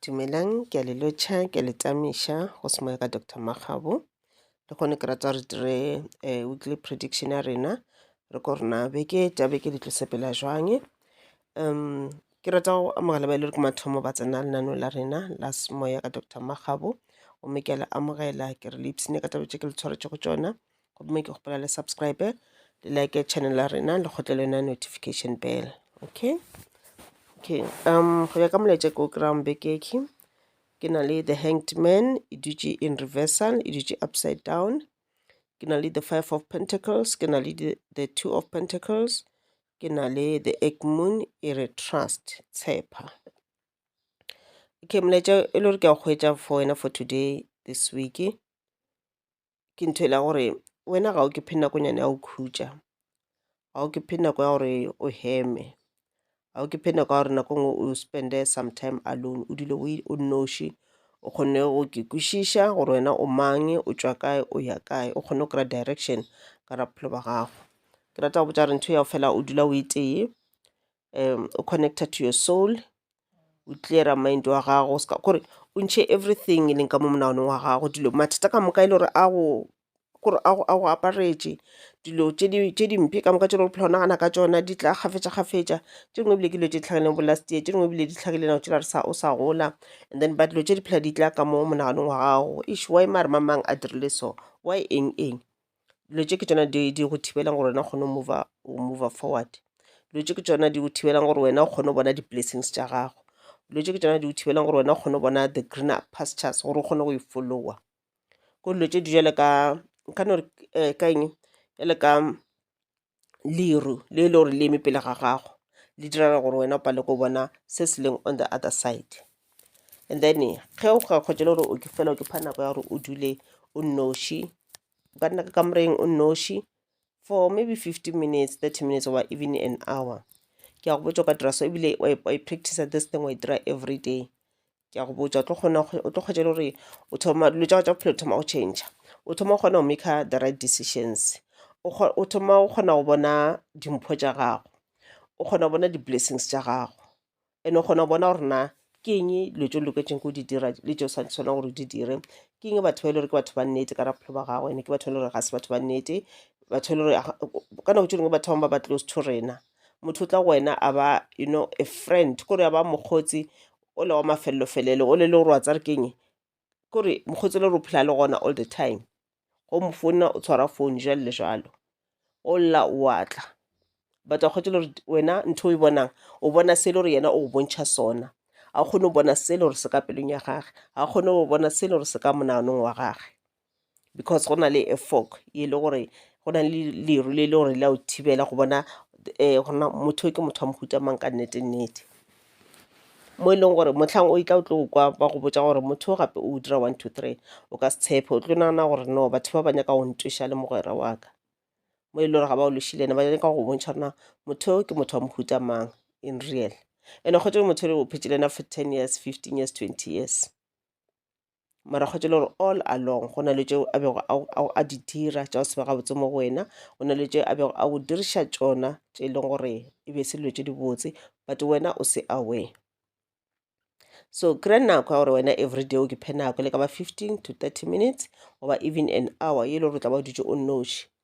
Dumelang, ke a le lotšha, ke a le tamiša go se moya ka Doctor Makgabo. Le kgone ke rata re dire eh, weekly prediction ya rena re ko rena beke tša beke di tlo sepela jwang um ke rata go amogela ba e le gore ke mathomo ba tsena lenaneo la rena la semoya ka Doctor Makgabo gomme ke a le amogela ke re le ipsene ka taba tše ke le tshwaretše go tšona gomme ke kgopela le subscribe le like channel la rena le kgotle le yona notification bell okay okay um go ya ka molaetša ke o kry-ang bekeke ke na le the hanged man e dutše in reversal e dutše upside down ke na le the five of pentacles ke na le the two of pentacles ke na le the egg moon e re trust tshepa okay molaetša e le gore ke a go hwetša for wena for today this week ke ntho e le ya gore wena ga o ke phe nako nyana ya go khutša, ga o ke phe nako ya gore o heme, ga o ke phe nako ya gore nako e ngwe o spend-e some time alone o dule o nnoši, o kgone go ke kwešiša gore wena o mang, o tšwa kae, o ya kae, o kgone go kry-a direction ka ga bophelo bja gago. Ke rata go botša gore ntho ya fela o dula o e tee, um o connecta to your soul o cleara mind wa gago ska kore o ntšhe everything e leng ka mo monaganong wa gago dilo mathata ka moka e le gore a go kore a go a go aparetše dilo tše di tše dimpe ka moka tše le go phela o nagana ka tšona di tla kgafetša kgafetša tše dingwe ebile ke dilo tše di tlhagileng bo last year tše dingwe ebile di tlhagile nako tšela re sa o sa gola and then ba dilo tše di phela di tla ka mo monaganong wa gago ish why mare mamang a dirile so why eng eng dilo tše ke tšona di di go thibelang gore wena o kgone go mova, go mova forward. Dilo tše ke tšona di go thibelang gore wena o kgone go bona di-blessings tša gago. Dilo tše ke tšona di go thibelang gore wena o kgone go bona the greener pastures gore o kgone go e followa. Ko dilo tše di jale ka, nka no re eh, ka eng, jale ka, leru le le gore le eme pele ga gago le direla gore wena o pale ko bona se se leng on the other side and then ge o ga kgotse le gore o ke fela o ke pha nako ya gore o dule o nnoši o ka nna ka kamoreng o nnoši for maybe 15 minutes 30 minutes or even an hour ke a go botsa o ka dira so ebile wa e- wa e practice this thing wa e dira every day ke a go botša o tlo kgona o tlo kgwetša le gore o thoma dilo tša tša bophelo thoma go change o thoma o kgona go maker the right decisions o thoma o kgona go bona dimpho tša gago o kgona go bona di-blessings tša gago and o kgona go bona gore na ke eng dilo tse o loketseng ko di dira le tse o sa tshwanang gore di dire ke eng batho ba e le gore ke batho ba nnete ka raphelo ba gago ene ke batho ba e le gore ga se batho ba nnete batho e le gore ka nako tse dingwe batho bangwe ba ba close to rena motho o tla go wena a ba you know a friend kore a ba mokgotsi o le wa mafelelo felelo o le le gore wa tsare keng kore mokgotsi le re o phela le gona all the time go mo founa o tshwara phone jalo le jalo o lla wa tla but wa kgotsi le gore wena ntho o e bonang o bona se le gore yena o go bontšha sona ga o kgone go bona se le gore se ka pelong ya gage ga o kgone go bona se le gore se ka monaganong wa gage because go na le a fog e le gore go na le leru le le gore la o thibela go bona um gore na motho yo ke motho wa mohuta mang ka nnete nnete mo e leng gore motlhang o itla o tlo kwa ba go botsa gore motho o gape o dira one two three o ka se tshepe o tlo nagana gore no batho ba ba nyaka go ntweša le mogwera wa ka mo e le gore ga ba o lešile ne ba nyaka go bontšha rena motho yo ke motho wa mohuta mang in real ene kgotse motho le o phetše le ena for ten years fifteen years twenty years mara kgwetše le gore all along go na le tšeo a bego a di dira tša go se be gabotse mo go wena go na le tše a bego a go diriša tšona tše e leng gore e be se dilo tše dibotse but wena o se aware so kry nako ya gore wena everyday o ke phe nako le ka ba fifteen to thirty minutes goba even an hour ye e le gore o tla ba o dutše o nnoši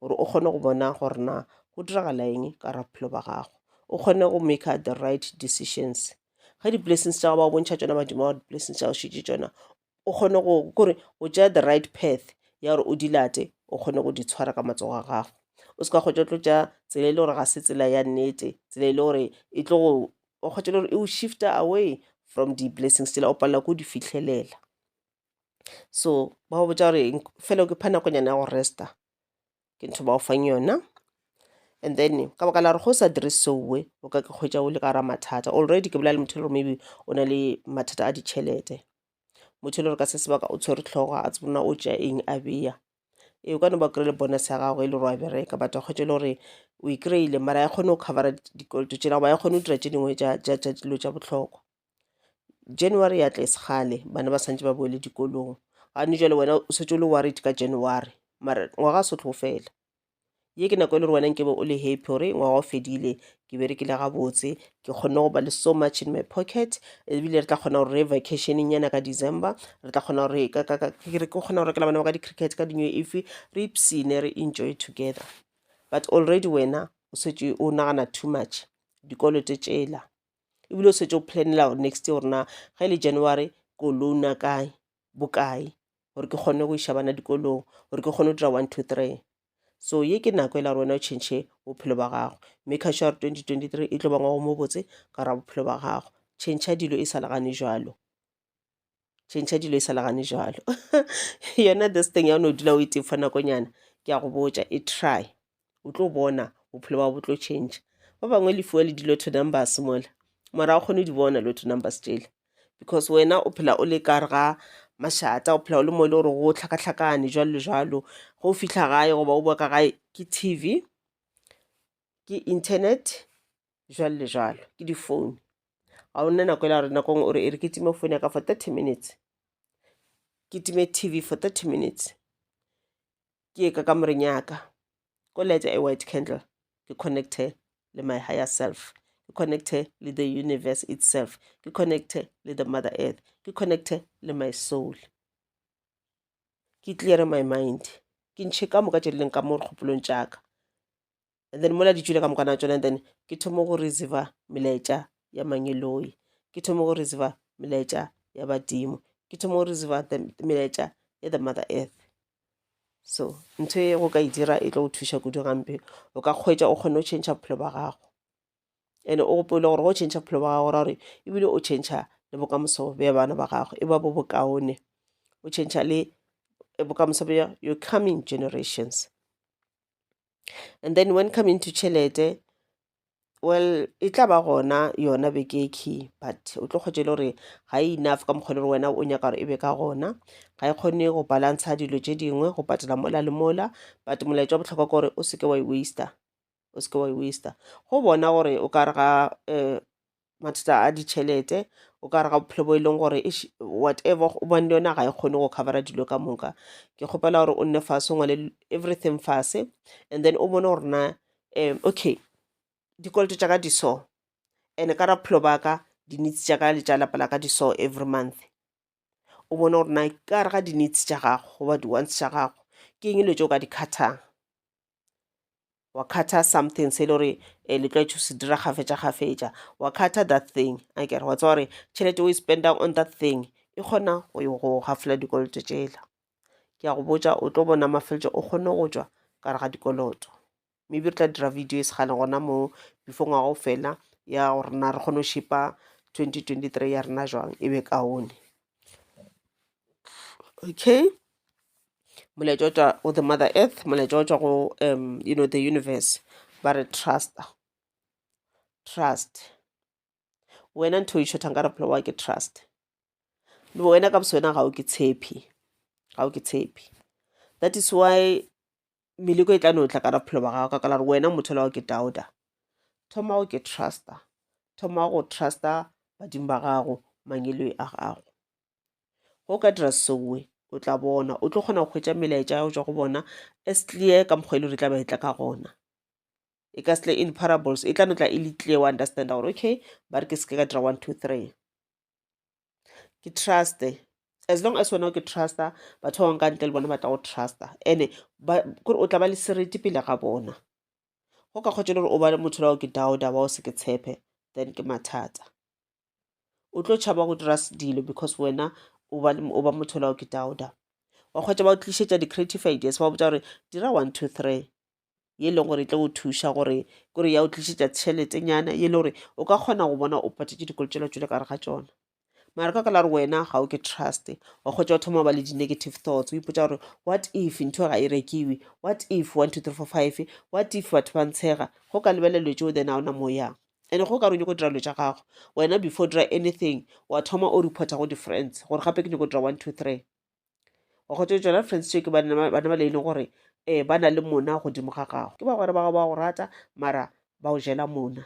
gore o kgone go bona gore na go diragala eng ka ra bophelo ba gago o kgone go maker the right decisions ge di-blessings tša gago ba bontšha tšona badimo wa di-blessings tša go šitše tšona o kgone go kore o tšea the right path ya gore o di late o kgone go di tshwara ka matsogo a gago o se ka kgotša tlo tša tsela e le gore ga se tsela ya nnete tsela e le gore e tlo go o kgotša le gore e o shifta away from di-blessings tsela o palela ko di fitlhelela so ba go botša gore fela ke pha nakonyana ya go resta ke ntho ba go fang yona and then ka baka la gore go sa dire seowe o ka ke kgwetsa o le ka gara mathata already ke bolela le motho le gore maybe o na le mathata a ditšhelete motho e le gore ka se sebaka o tshwere tlhogo a tsebona o tša eng a beya ee o ka no ba kry-ile bonus ya gago e le gore wa bereka but wa kgwetsa e le gore o e kry-ile mara ya kgone go covera dikoloto tšela goba ya kgone go dira tše dingwe tša dilo tša bohlokwa January ya tlese kgale bana ba santse ba boele dikolong gane jale wena o setse o le worried ka January mara ngwaga se tlo fela ye ke nako e le gore wena nkebe o le happy gore ngwaga o fedile ke berekile gabotse ke kgonne go ba le so much in my pocket ebile re tla kgona gore re vacationeng yana ka december re tla kgona gore ka kgona go rekela bana ba ka di-cricket ka dino efe re ipsene re enjoy together but already wena o setse o nagana too much dikolote tšela ebile o setse o planela gore next year gore na ge le january ko loana kae bokae gore ke kgone go iša bana dikolong gore ke kgone go dira one two three so ye ke nako e la gore wena o change bophelo ba gago mme ka sure gore twenty twenty three e tlo ba ngwago mo botse ka gore bophelo ba gago change dilo e sa le gane jalo tšhentšha dilo e sa legane jalo yona this thing ya o ne o dula o itefa nakonyana ke ya go botša e try o tlo bona bophelo ba bo tlo tšhentšha ba bangwe le fuwa le dilo to numbers mola mara o kgone di bona lo to numbers tsele because wena o phela o le kare ga mašata o phela o le mo e le gore go tlhakatlhakane jalo le jalo go fitlha gae goba o boa ka gae ke tv ke internet jwalo le jwalo ke difounu ga o nne nako e la gore nakong o re e re ke time phone ya ka for thirty minutes ke time tv for thirty minutes ke ye ka kamoreng ya ka ko lete a white candle ke connecte le my higher self ke connecte le the universe itself ke connecte le the mother earth ke connecte le my soul ke cleare my mind ke ntšhe ka moka tše di leng ka mo dikgopolong tša ka and then mola di tšwile ka mokana tsona and then ke thome go receiva melaetša ya mangeloi ke thome go receiva melaetša ya badimo ke thome go receiva melaetša ya the mother earth so ntho e go ka e dira e tlo go thuša kudu gampe o ka kgwetša o kgone go change bophelo ba gago and o gopole gore go change bophelo ba gago ra gore ebile o change le bokamoso bja bana ba gago e ba bo bokaone o change le bokamoso bja your coming generations And then when coming to tšhelete, well e tla ba gona yona bekekhi but o tlo kgwetše le gore ga e enough ka mokgwa le gore wena o nyaka gore e be ka gona ga e kgone go balantsha dilo tše dingwe go patela mola le mola but molaetša wa bohlokwa ke gore o seke wa e waster o seke wa e waster go bona gore o ka re ga um mathata a ditšhelete o ka re ga bophelo bo e leng gore whatever o bone yona ga e kgone go covera dilo ka moka ke kgopela gore o nne fase o ngwale everything fase and then o bone gore na um okay dikoloto tša ka di so and ka raphelo ba ka dinitsi tša ka le tša lapa la ka di so every month o bone gore na ka re ga dinitsi tša gago goba di-wants tša gago ke eng dilo tšeo ka di khathang wa khatha something se e le gore um le tlwaetše go se dira gafetša gafetša wa khatha that thing a kere wa tseba gore tšhelete o e spendang on that thing e kgona go yo go gafola dikoloto tšela ke ya go botša o tlo bona mafeletšo o kgone go tšwa ka re ga dikoloto maybe re tla dira video e segale gona mo before ngwaga o fela ya gore na re kgone go šipa 2023 ya rena jwang e be kaone okay molaetša o tšwa go the mother earth molaetša o tšwa go um you know the universe ba re trust trust wena ntho e šotha nka re phela wa ke trust le wena ka boswena ga o ke tshepi ga o ke tshepi that is why meleko e tla no tla ka ra bophelo ba gago ka kala re wena motho la wa ke dauda thoma go ke trusta thoma go trusta badimo ba gago mangelo a gago go ka dira sewe o tla bona o tlo kgona go hwetša melaetša ya go tšwa go bona as clear ka mokgwa e le gore e tla ba e tla ka gona e ka sele in parables e tla no tla e le clear wa understanda gore okay ba re ke seke ka dira one two three ke truste as long as wena o ke trusta batho ba bangwe ka ntle le bona ba tla go trusta ene kore o tla ba le sereti pele ga bona go ka kgotsa le gore o ba motho la o ke dauda wa o se ke tshepe then ke mathata o tlo tšhaba go dira dilo because wena o ba o ba motho lao ke dauda wa kgwetsa ba o tlišetša di-creative ideas ba botsa gore dira one two three ye e leng gore e tlo go thuša gore kore ya o tlišetša tšheletenyana ye e le gore o ka kgona go bona o patetse dikolo tšela tšwele kare ga tsona mara ka ka la gore wena ga o ke trust wa kgwetsa o thoma ba le di-negative thoughts o ipotsa gore what if ntho ga e rekiwe what if one two three four five what if batho ba ntshega go ka lebelelwe tšeo then a ona mo yang ene go ka re o nyako dira dilo tša gago wena before dira anything wa thoma o reporta go di-friends gore gape ke nyako dira one two three wa kgotsa tsona friends tšeo ke bana ba le e leng gore um ba na le mona godimo ga gago ke ba gore ba go rata mara ba o jela mona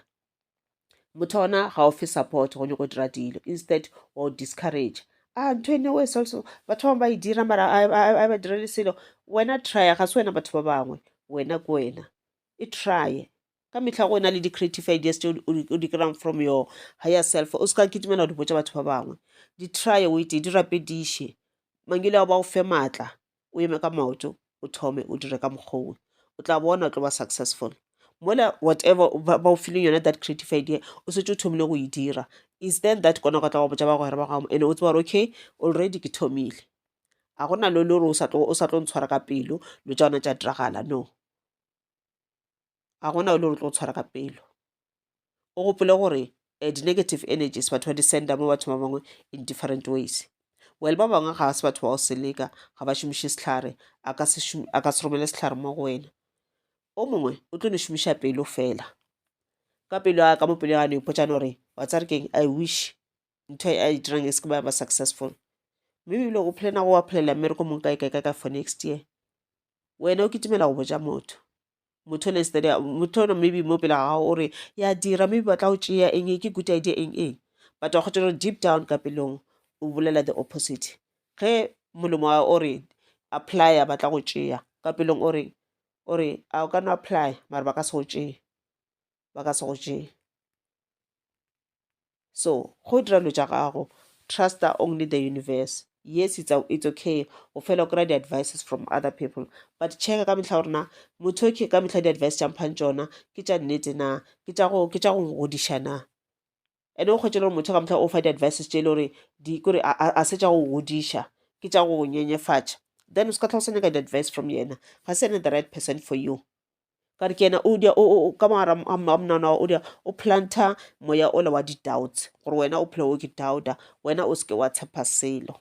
motho ona ga o fe support go nyako dira dilo instead wa o discourage a ntho ene o esalso batho bangwe ba e dira mara a ba direle selo wena trya ga se wena batho ba bangwe wena ke wena e trye ka mehla go na le di-creative ideas tse o di kry-ang from your higher self o se ka kitimela go di botsa batho ba bangwe di try o ete di rapediše mangile ao ba o fe maatla o eme ka maoto o thome o dire ka mokgowe o tla bona o tlo ba successful mola whatever ba o feeling yone that creative idea o setse o thomile go e dira is then that kona go tla go botsa ba gore ba gago and o tseba gore okay already ke thomile a gona lo le gore o sa tlo ntshwara ka pelo lo tsa ona tša diragala no ga gona o le gore tlo tshwara ka pelo o gopole gore um di-negative energies batho ba di senda mo batho ba bangwe in different ways well ba bangwe ga se batho ba go seleka ga ba šomiše sehlare a ka se romele sehlare mo go wena o mongwe o tlo no šomiša pelo fela ka pelo ya ka mo pelo ya gane ipotsane gore wa tsa re keng i wish ntho a e dirang e se ke ba ba successful mme ebile o phele nago wa phelela mmereko mong kae kae kae kae for next year wena o kitimela go boja motho motho ne steady motho no maybe mo pela ga o re ya dira maybe ba tla o tšea eng ke good idea eng eng but wa kgotsa gore deep down ka pelong o bolela the opposite ge molomo wa o re apply ba tla go tšea ka pelong o re o re a o ka no apply mara ba ka se go tšee ba ka se go tšee so go dira dilo tša gago truster only the universe yes it's, a, it's okay o fela o kry-a di-advices from other people but checka ka mehla gore na motho ke ka mehla di-advice tša mphang tšona ke tša nnete na ke tša go godiša na ene o kgwetše le gore motho ka mohla o fa di-advices tše e le gore di kore a se tša go godiša ke tša go nyenyefatša then o se ka tlha o sa nyaka di-advice from yena ga se ene the right person for you ka re ke yena o dia ka mogara a mnana wa o dia o planta moya ola wa di-doubts gore wena o phela o ke doubta wena o se ke wa tshepa selo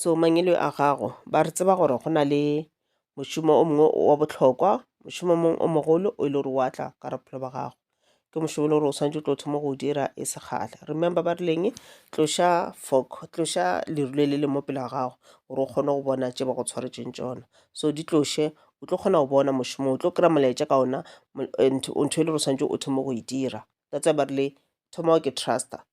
so mangwele a gago ba re tseba gore go na le mošomo o mongwe wa bohlokwa mošomo mongwe o mogolo o e le gore wa tla ka re bophelo ba gago ke mošomo e le gore o swanetše o tlo thoma go o dira e se kgale remember ba rileng tloša fok tloša leru le le le mo pela gago gore o kgone go bona tše ba go tshwaretšeng tšona so di tloše o tlo kgona go bona mošomo o tlo kry-a molaetša ka ona and ntho e le gore o swanetše o thoma go e dira that's why ba rile thoma o ke truster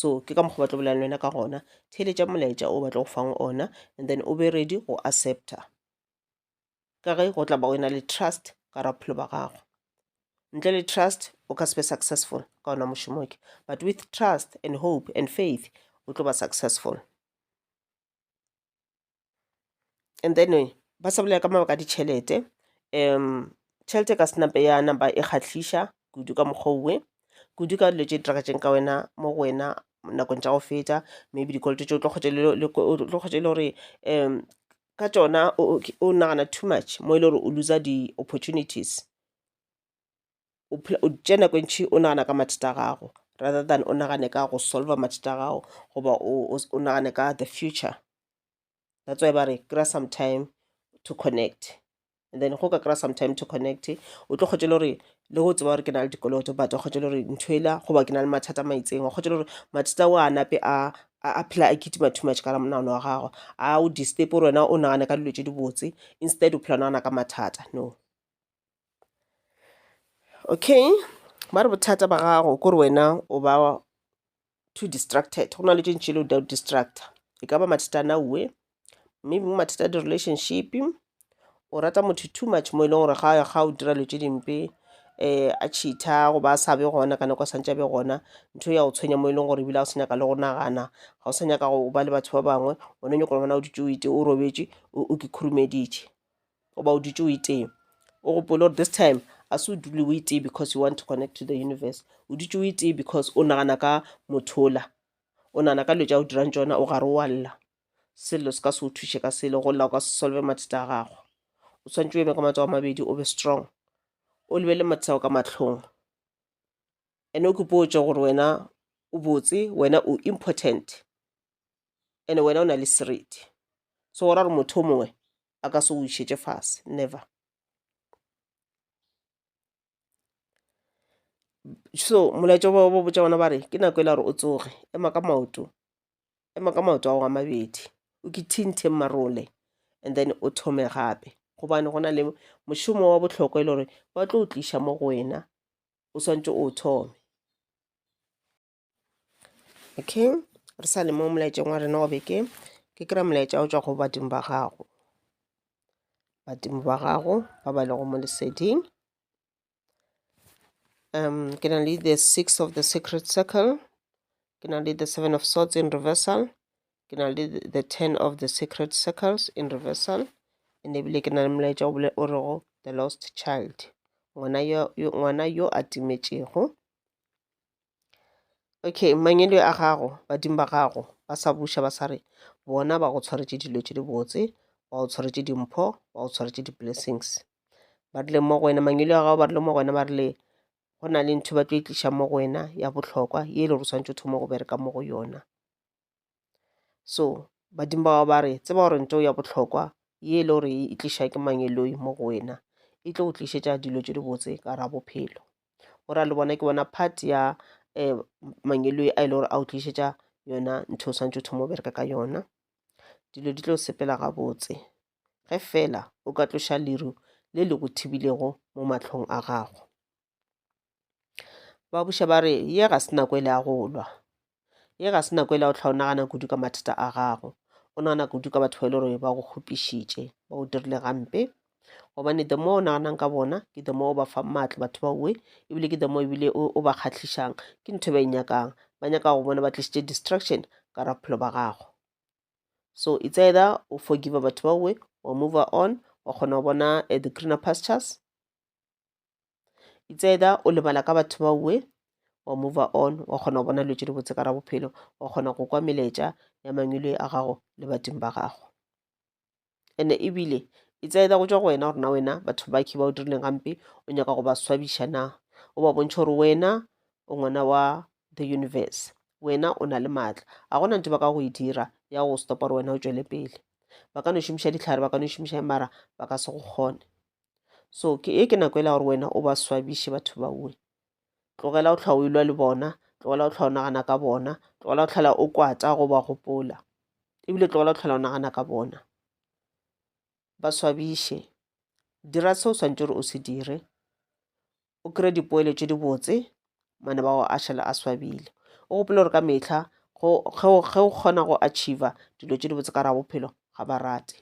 so ke ka mokgwa ba tlo bolela le wena ka gona theeletša molaetša o batla go fang ona and then o be ready go accepta ka ge go tla ba o na le trust ka ra bophelo ba gago ntle le trust o ka se be successful ka ona mošomo ke but with trust and hope and faith o tlo ba successful and then ba sa bolela ka mabaka a ditšhelete um tšhelete e ka se napa ya napa e kgahliša kudu ka mokgwa owe kudu ka dilo tše di diragatseng ka wena mo go wena nakong tša go feta maybe dikoloto tše o tlo kgotša le e le gore um ka tšona o nagana too much mo e le gore o looser di-opportunities. o phela o tše nako e ntši o nagana ka mathata a gago rather than o nagane ka go solver mathata a gago goba o nagane ka the future that's why ba re kry-a some time to connect and then go ka kry-a some time to connect o tlo kgotse le gore le go tseba gore ke na le dikoloto but wa kgotse le gore ntho ela goba ke na le mathata a maitseng wa kgotse le gore mathata o a nape a a phela a kitima too much ka la monagano wa gago a o disturb gore wena o nagane ka dilo tse dibotse instead o phela o nagana ka mathata no okay ba re bothata ba gago kore wena o ba too distracted go na le tše ntši le o distracta e ka ba mathata a nauwe maybe mo mathata a di-relationship o rata motho too much mo e leng gore ga ya ga o dira dilo tše dimpe um a cheatha goba a sa be gona ka nako a santse a be gona ntho ya go tshwenya mo e leng gore ebile ga o sa nyaka le go nagana ga o sa nyaka go ba le batho ba bangwe one nyako le gona o dutse o ite o robetše o ke khurumeditše goba o dutše o itee o gopole gore this time a se o dule o itee because you want to connect to the universe o dutše o itee because o nagana ka mothola o nagana ka dilo tša o dirang tsona o gare wa lla sello se ka se o thuše ka selo go lla o ka se solve mathata a gago o tshwanetse o eme ka matsogo a mabedi o be strong o lebele mathata ao ka mahlong ene o ke potše gore wena o botse wena o important ene wena o na le seriti so go ra gore motho o mongwe a ka se go išetše fase never so molaetša ba ba botša bona ba re ke nako e la gore o tsoge ema ka maoto ema ka maoto a go a mabedi o ke thinthe marole and then o thome gape gobane go na le mošomo wa bohlokwa e le gore ba tlo o tliša mo go wena o swantse o thome okay re sa le mo molaetšeng wa rena wa beke ke kry molaetša o tswa go badimo ba gago badimo ba gago ba ba lego mo leseding um ke na le the six of the secret circle ke na le the seven of swords in reversal ke na le the ten of the secret circles in reversal and ebile ke na le molaetša o bole o rego the lost child ngwana yo a timetšego Okay mangwele a gago badimo ba gago ba sa buša ba sa re bona ba go tshwaretše dilo tše di botse ba go tshwaretše dimpho ba go tshwaretše di-blessings ba rile mo go wena mangwele a gago ba rile mo go wena ba rile go na le ntho ba tlo e tliša mo go wena ya bohlokwa ye e le gore o swanetše o thoma go bereka mo go yona so badimo ba ba re tseba gore ntho ya bohlokwa ye e le gore e tliša ke mangeloi mo go wena e tlo go tlišetša dilo tše dibotse ka ra bophelo go ra le bona ke bona part ya um mangeloi a e le gore a o tlišetša yona ntho o swantse o thoma o bereka ka yona dilo di tlo sepela gabotse ge fela o ka tloša leru le le go thibilego mo matlhong a gago ba buša ba re ye ga se nako e le ya go lwa ye ga se nako e le ya go tlha o nagana kudu ka mathata a gago o nagana kudu ka batho ba e le gore ba go kgopišitše ba o dirile gampe gobane the more o naganang ka bona ke the more o ba fa maatla batho ba uwe ebile ke the more ebile o ba kgatlhišang ke ntho e ba e nyakang ba nyaka go bona ba tlišitše distraction ka raphelo ba gago so it's either o forgive batho ba uwe wa move on wa kgona go bona eh, the greener pastures it's either o lebala ka batho ba uwe wa move on wa kgona go bona dilo tše di botse ka ra bophelo wa kgona go kwa meletša ya mangwele a gago le badimo ba gago ene ebile it's either go tšwa go wena gore na wena batho ba khe ba o dirileng gampe o nyaka go ba swabiša na o ba bontšha gore wena o ngwana wa the universe wena o na le maatla ga gona ntho ba ka go e dira ya go stopa gore wena o tšwele pele ba ka no šomiša ditlhare ba ka no šomiša mara ba ka se go kgone so ke e ke nako e la gore wena o ba swabiše batho baue tlogela o tlhwa o ilwa le bona tlogela o tlhwa o nagana ka bona tlogela o tlhola o kwata go ba gopola ebile tlogela o tlhola o nagana ka bona ba swabiše dira se o swantse gore o se dire o kry dipoeletšo di botse mane ba go a šala a swabile o gopole gore ka metlha ge o kgona go achieva dilo tše di botse ka ra bophelo ga ba rate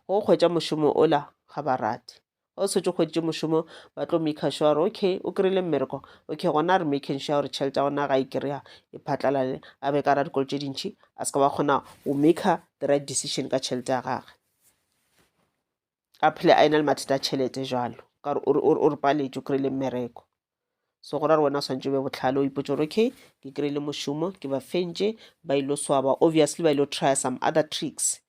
go kgwetša mošomo ola ga ba rate o setse kgweditše mošomo ba tlo make sure gore okay o kry-ile mmereko okay gona re making sure gore tšhelete ya gona ga e kry-a e phatlalale a be ka ra dikolo tše dintšhi a se ka ba kgona go maker the right decision ka tšhelete ya gage a phele a ena le mathata a tšhelete jalo ka gore o re paletše o kry-ile mmereko so go ra gore wena o swantse o be botlhale o ipotse gore okay ke kry-ile mošomo ke ba fentše ba ile swaba obviously ba ile try some other tricks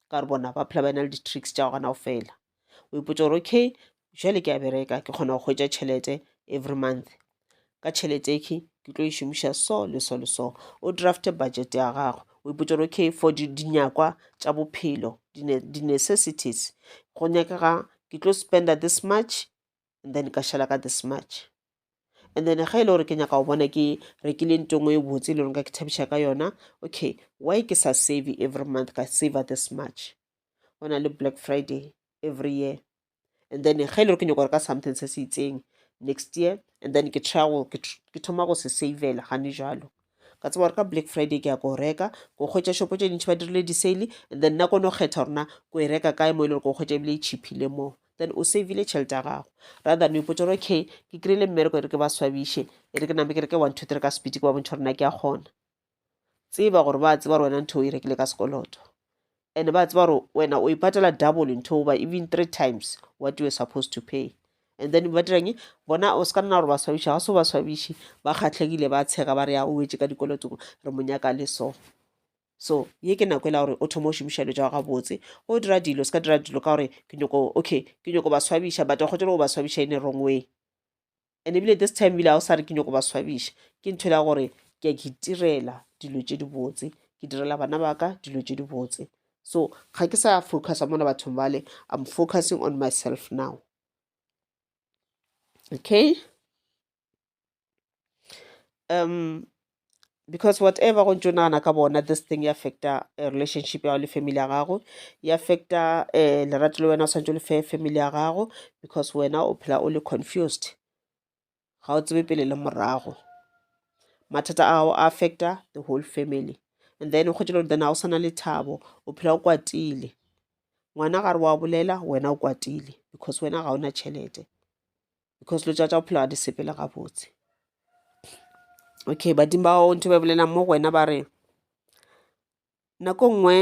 ka gore bona ba phela ba ena le di-tricks tša go gana go fela o ipotse gore okay jale ke a bereka ke kgona go hwetša tšhelete every month ka tšhelete ekhe ke tlo e šomiša so le so le so o drafte budget ya gago o ipotsa gore okay for dinyakwa tša bophelo di-necessities go nyakega ke tlo spenda this much and then ka šala ka this much and then ga e le gore ke nyaka go bona ke rekile nto ngwe e botse e le gore ka ke thabiša ka yona okay why ke sa save every month ka saver this much go na le black friday every year and then ge e le gore ke nyaka gore ka something se se itseng next year and then ke try go ke thoma go se savela gane jalo ka tseba gore ka black friday ke ya ko reka ko kgwetsa shopo tse dintšhi ba dirile di-sale and then nna kono kgetha gorena ko e reka kae mo e le gore ko kgwetsa ebile e cheaphile moo then o savile tšhelete ya gago rather ne ipotsa gore okay ke kry-ile mmereko e re ke ba swabiše e re ke name ke re ke one two three ka speed ke ba bontšha gore na ke a kgona tseba gore ba tseba gore wena ntho o e rekile ka sekoloto and ba tseba gore wena o ipatela double ntho goba even three times what you were supposed to pay and then ba dirang bona o se ka nna gore ba swabiša ga se ba swabiše ba kgatlhegile ba tshega ba re ya o wetse ka dikolotong re monyaka le so so ye ke nako e la gore o thoma o šomiša dilo tsa ga botse go dira dilo se ka dira dilo ka gore ke nyoko okay ke nyoko ba swabiša but o kgotse go ba swabiša in a wrong way and ebile this time ebile ga o sa re ke nyoko ba swabiša ke ntho ya gore ke ke itirela dilo tše di botse ke direla bana ba ka dilo tše di botse so ga ke sa focusa mona bathong bale i'm focusing on myself now okay um because whatever go ntšo nagana ka bona this thing ya affecta eh, relationship ya gago le family ya gago ya affecta um lerato le wena o swanetse le fe family ya gago because wena o phela o le confused ga o tsebe pele le morago mathata a gago a affecta the whole family and then o kgwetše le gore then ga o sana le thabo o phela o kwatile ngwana gare wa bolela wena o kwatile because wena ga o na tšhelete because lo tša tša bophelo ga di sepele gabotse okay badimo ba gago ntho ba bolela mo go wena ba re nako nngwe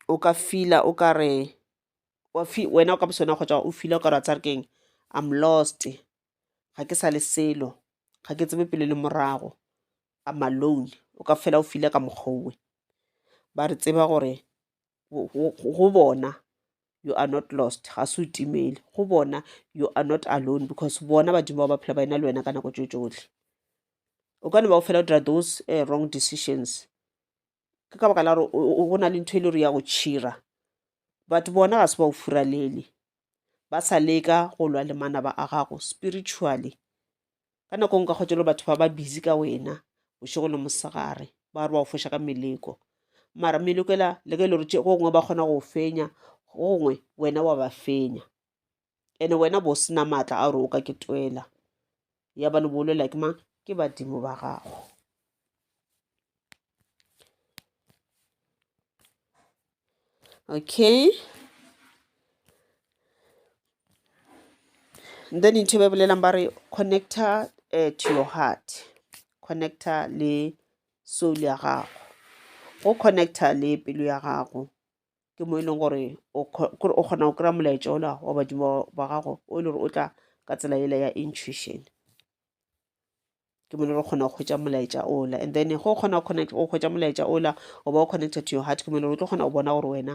o ka fila o ka re wena o ka bosona kgotsa o fila o ka re wa tsare keng i'm lost ga ke sa le selo ga ke tsebe pele le morago i'm alone o ka fela o file ka mokgowe ba re tseba gore go bona you are not lost ga se o timele go bona you are not alone because bona badimo ba ba phela ba ena le wena ka nako tso tsotlhe o ka ne ba go fela o dira those uh, wrong decisions ke ka baka la gore go na le ntho e le gore ya go tšhira but bona ga se ba o furalele ba sa leka go lwa le manaba a gago spiritually ka nako nka kgwetša le batho ba ba busy ka wena bošego le mosegare ba re ba go foša ka meleko mara meleko ela le ka e le gore go gongwe ba kgona go fenya go gongwe wena wa ba fenya ene wena bo sena maatla a gore o ka ke twela ya ba le bolela ke mang ke badimo ba gago okay then ntho e ba e bolelang ba re connector uh, to your heart connector le soul ya gago go connector le pelo ya gago ke mo e leng gore o kgona go kry-a molaetša ola wa badimo ba gago o e le gore o tla ka tsela ele ya intuition ke mo re kgona go hwetša molaetša ola and then go kgona go hwetša molaetša ola o ba o connected to your heart ke mo o tlo kgona go bona gore wena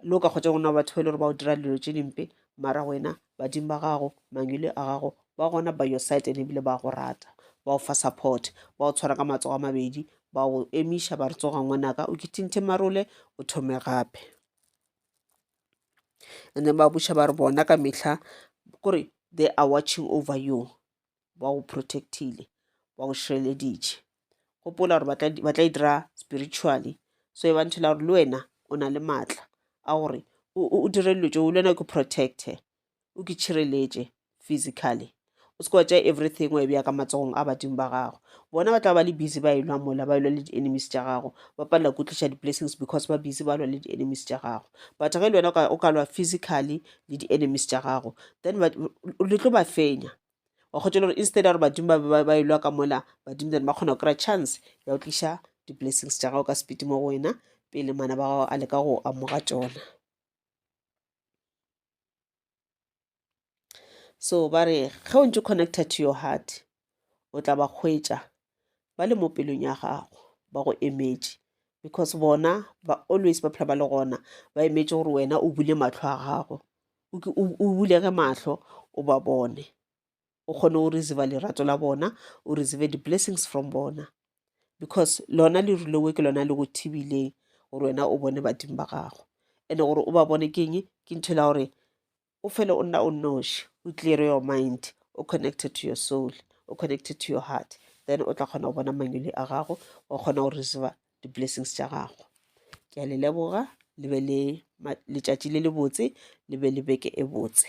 le o ka kgotsa gona batho ba e le gore ba o dira dilo tše dimpe mara wena badimo ba gago mangwele a gago ba gona by your side and ebile ba go rata ba o fa support ba o tshwara ka matsogo a mabedi ba o emiša ba re tsoga ngwanaka o kithinthe marole o thome gape and then ba buša ba re bona ka metlha kore they are watching over you ba go protect-ile ba go šireleditše gopola gore ba tla e dira spiritually so e bantšhela gore le wena o na le maatla a gore o dire dilo tšeo le wena o ke protecte o ke tšhireletše physically o se wa tša everything wa e bja ka matsogong a badimo ba gago bona ba tla ba le busy ba e lwa mola ba e lwa le di-enemies tša gago ba palela ko tliša di-blessings because ba busy ba lwa le di-enemies tša gago but ge le wena o ka lwa physically le di-enemies tša gago then le tlo ba fenya wa kgotsa le gore instead ya gore badimo ba be ba- ba e lwa ka mola badimo then ba kgona go kry-a chance ya go tliša di-blessings tša gago ka speed mo go wena pele mana ba gago a leka go amoga tšona so ba re ge o ntse o connected to your heart o tla ba hwetša ba le mo pelong ya gago ba go emetše because bona ba always ba phela ba le gona ba emetše gore wena o bule matlho a gago o bulege mahlo o ba bone o kgone go receive lerato la bona o receive di-blessings from bona because lona leru lewe ke lona le go thibileng gore wena o bone badimo ba gago and-e gore o ba bone ke eng ke ntho la gore o fele o nna o nnoši o clear your mind o connected to your soul o connected to your heart then o tla kgona go bona manyole a gago wa kgona go receive di-blessings tša gago ke a le leboga le be le letšatši le le botse le be le beke e botse.